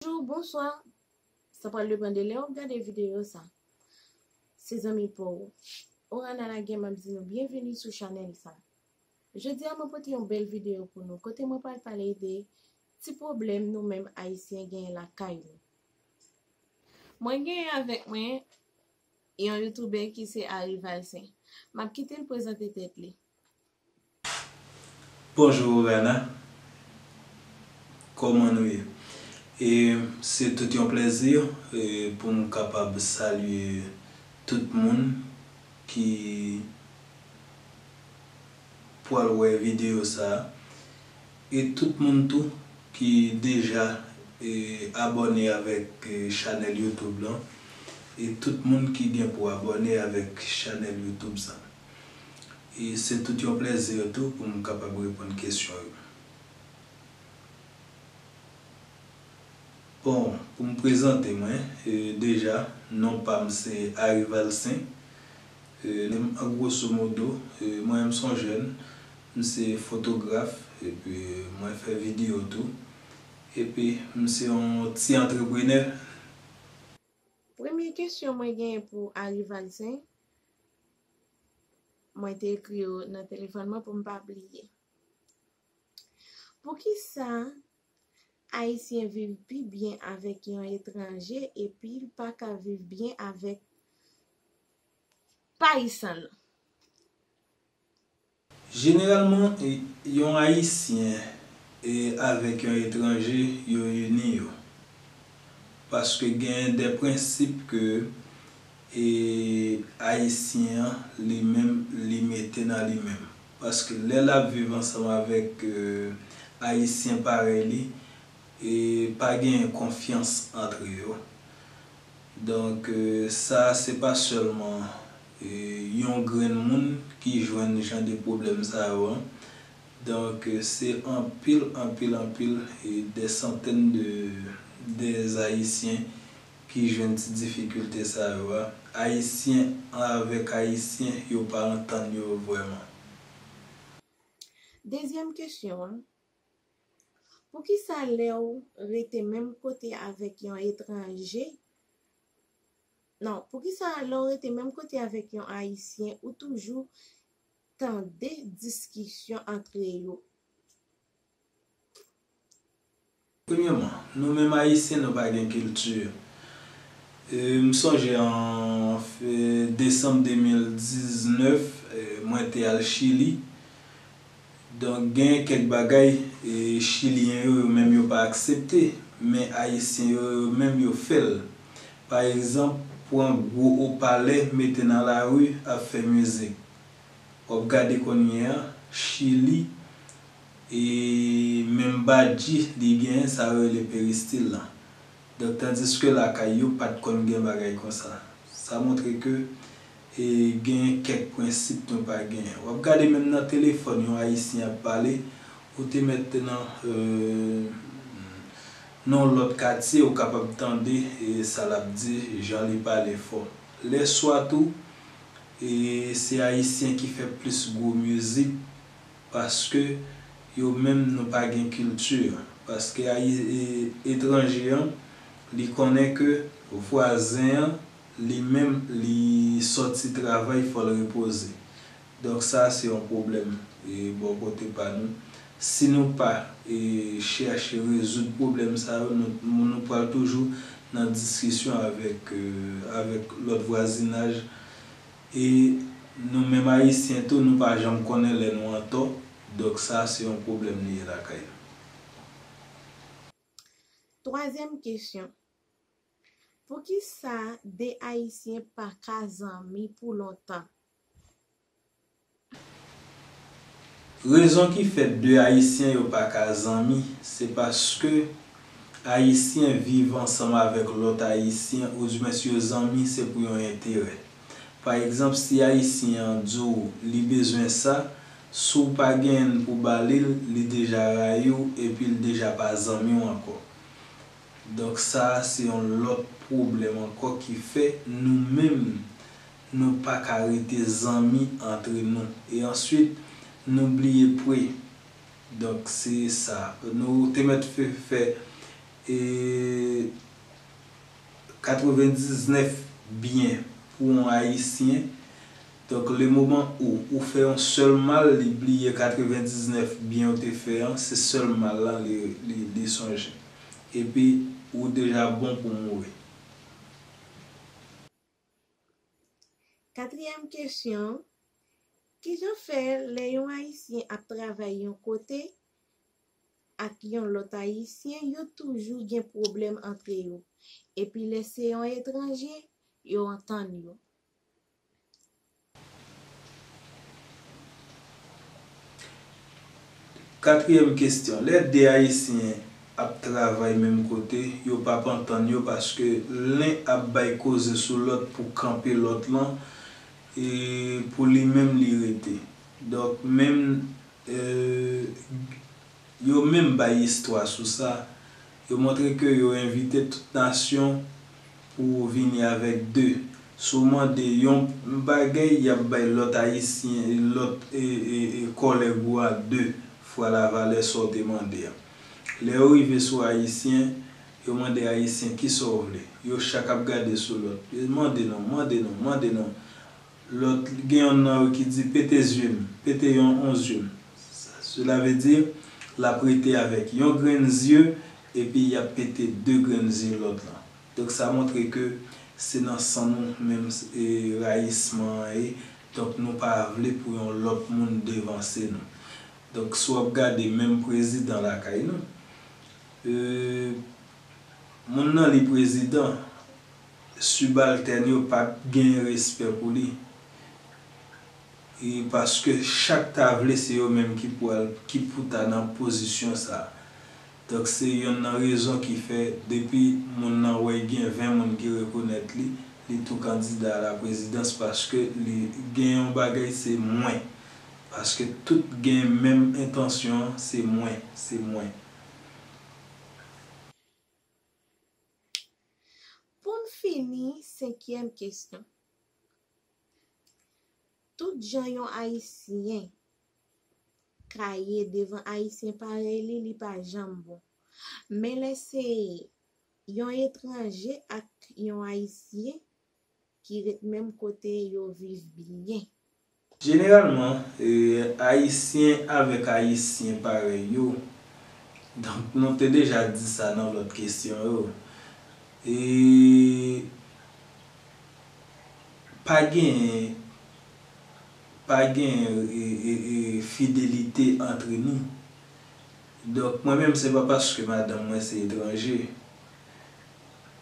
Bonjou, bonswa, sa pral depan de lè ou gade videyo sa. Se zanmi pa ou, Orana Laguerre m ap di nou byenveni sou chanèl sa. Jodi a mwen pote yon bèl videyo pou nou kote mwen pral pale de ti pwoblèm nou menm Ayisyen genyen lakay nou. Mwen genyen avèk mwen yon youtubè ki se Ary Valcin. M ap kite l prezante tèt li. Bonjou Rana Koman nou ye? E se tout yon plèzi pou m kapab salye tout moun ki pwal wè videyo sa a e tout moun tou ki deja abòne avèk chanèl youtube lan e tout moun ki gen pou abòne avèk chanèl youtube sa. E se tout yon plèzi tou pou m kapab reponn kesyon yo. Bon, pou m prezante mwen, deja, non pa m se Ary Valcin. An gwoso modo, mwen menm s on jèn, m se fotograf epi mwen fè videyo tou. Epi m se yon ti antreprenè. Premye kesyon mwen genyen pou Ary Valcin, Mwen te ekri yo nan telefòn mwen pou m pa bliye. Poukisa Ayisyen viv pi byen avèk yon etranje epi l pa ka viv byen avèk Payisan l? Jeneralman, yon Ayisyen avèk yon etranje yo ini yo. Paske gen de prensip ke Ayisyen an li menm li mete nan li menm. Paske lè l ap viv ansanm avèk Ayisyen parèy li, pa genyen konfyans antre yo. Donk sa se pa sèlman. Yon grenn moun ki jwenn jan de pwoblèm sa yo an. Donk se anpil, anpil, anpil, dè santèn de dè Ayisyen ki jwenn ti difikilte sa yo a. Ayisyen avèk Ayisyen yo pa antann yo vrèman. Dezyèm kesyon an, Poukisa lè ou rete menm kote avèk yon etranje Non, poukisa lè w rete menm kote avèk yon Ayisyen ou toujou tande diskisyon antre yo? Premyèman, nou menm Ayisyen nou pa gen kilti. M sonje an desanm 2019, mwen te al Chili, Donk gen kèk bagay chilyen yo yo menm yo pa aksepte, men ayisyen yo yo menm yo fè l. Pa egzanp, pran gwo opalè mete nan lari ap fè mizik. W ap gade kounye a, Chili, e menm badji li genyen sa yo rele peristil la. Donk tandiske lakay yo pa t konn gen bagay konsa. Sa montre ke. E genyen kèk prensip nou pa genyen. Wap gade menm nan telefòn yon ayisyen ap pale ou te mèt nan nan yon lòt katye ou kapab tande sa lap di jan li pale fò. Lè swa tou e se ayisyen ki fè plis gwo mizik paske yo menm nou pa gen kilti paske etranje an li konnen ke vwazen an Li menm li sòti travay fòl repoze. Donk sa se yon pwoblèm bò kote pa nou. Si nou pa chèche rezoud pwoblèm sa yo nou pral toujou nan diskisyon avèk lòt vwazinaj e nou menm ayisyen tou nou pa janm konnen lè nou antò donk sa se yon pwoblèm li ye lakay nou. Twazyèm kesyon. Poukisa 2 ayisyen paka zanmi pou lontan. Rezon ki fè 2 ayisyen yo paka zanmi se paske ayisyen viv ansanm avèk lòt ayisyen oudjmen si yo zanmi se pou yon enterè. Pa egzanp si ayisyen an di w li bezwen sa, si w pa genyen n pou ba li l, li deja rayi w epi l deja pa zanmi w ankò. Donk sa a se yon lòt pwoblèm ankò ki fè nou menm nou pa ka rete zanmi antre nou. E answit nou bliye pwe. Donk se sa. Nou te mèt fè 99 byen pou yon Ayisyen. Donk le moman ou ou fè yon sèl mal li bliye 99 byen ou te fè an se sèl mal lan li sonje. Epi ou deja bon pou mouri. Katriyèm kesyon, Kijan fè lè yon Ayisyen ap travay yon kote ak yon lòt Ayisyen yo toujou gen pwoblèm antre yo, epi lè se yon etranje yo antann yo? Katriyèm kesyon, lè 2 ayisyen ap travay menm kote, yo p ap antann yo paske len ap bay koze sou lòt pou kanpe lòt lan e pou li menm li rete. Donk menm. Yo menm bay istwa sou sa. Yo montre ke yo envite tout nasyon pou vini avèk de. Si w mande yon bagay, y ap bay lòt Ayisyen, lòt kòlèg ou a de fwa lavalè sa w te mande a. Lè yo rive sou Ayisyen, yo mande Ayisyen kisa w vle. Yo chak ap gade sou lòt. Mande non, mande non, mande non. Lòt, gen yonn nan yo ki di, Pete zye m, pete yon on zye m. Sela vle di, l ap rete avèk yon grenn zye, epi y ap pete de grenn zye lòt lan. Donk sa montre ke se nan san nou menm rayisman an ye, donk nou pa vle pou yon lòt moun devanse nou. Donk si w ap gade menm prezidan lakay nou, moun nan li prezidan. Subaltèn yo pat gen respè pou li wi paske chak ta vle se yo menm ki pou al ki pou ta nan pozisyon sa. Donk se yonn nan rezon ki fè depi moun nan wè gen 20 moun ki rekonèt li, li tou kandida a la prezidans paske li gen yon bagay se mwen. Paske tout gen menm entansyon se mwen, se mwen. Pou n fini, senkyèm kesyon, Tout jan yon Ayisyen ka ye devan Ayisyen parèy li, li pa janm bon. Men lè se yon etranje ak yon Ayisyen, ki ret menm kote yo viv byen. Jeneralman, Ayisyen avèk Ayisyen parèy yo, donk nou te deja di sa nan lòt kesyon yo, e pa genyen pa genyen fidelite antre nou. Donk mwen menm se pa paske madanm mwen se etranje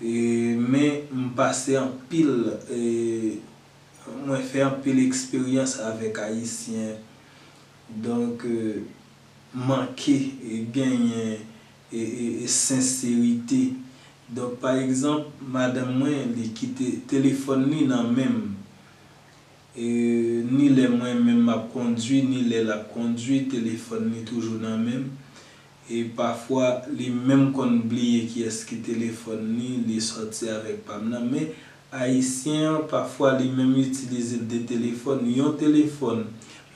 Men m pase anpil mwen fè anpil eksperyans avèk ayisyen donk manke genyen senserite donk pa egzanp madanm mwen li kite telefòn li nan men m. Ni lè mwen menm m ap kondwi ni lè l ap kondwi, telefòn li toujou nan men m. E pafwa, li menm konn bliye kiyès ki telefòn li, li sòti avèk pa m nan. Men, Ayisyen an, pafwa li menm itilize l de telefòn. Yon telefòn,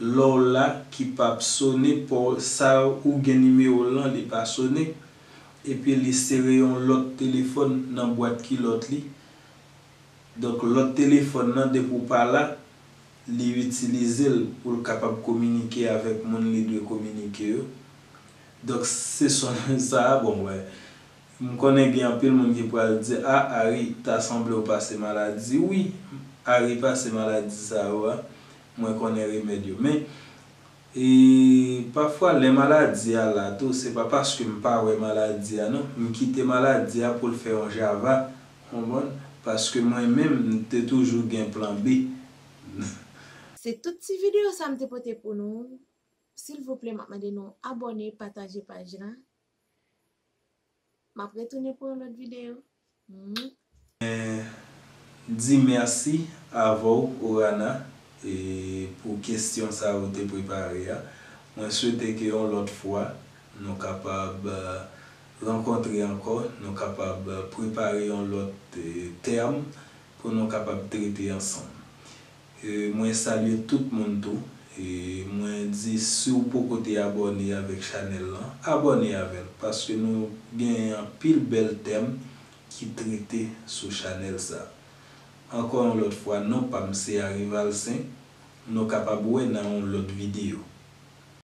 lè w la, ki pa p sone, sa ou gen nimewo l lan, li pa sone. Epi li sere yon lòt telefòn nan bwat kilòt li. Donk lòt telefòn nan depi w pa la, li itilize l pou l kapab kominike avèk moun li dwe kominike yo. Donk se son sa a, bon wè, m konnen gen anpil moun ki pral di, a Ari, ta sanble w pase maladi. Wi, Ari pase maladi sa yo a, mwen konnen remèd yo. Men. E pafwa lè maladi a la tou se pa paske m pa wè maladi a non, m kite maladi a pou l fè yon java, konprann, paske mwen menm m te toujou gen plan B. Se tout ti video sa m te pote pou nou, silvouplè map mande nou abone, pataje paj la. Map retounen pou yon lòt video Mwen di merci avèw Orana pou kesyon sa ou te prepare a Mwen swete ke yon lòt fwa nou kapab rankontre ankò nou kapab prepare yon lòt tèm pou nou kapab trete ansanm Mwen salye tout moun tou. Mwen di siw poko te abòne avèk chanèl lan abòne avèl paske nou gen anpil bèl tèm ki trete sou chanèl sa. Ankò yon lòt fwa non pam se Arivalcin nou kapab wè nan yon lòt video.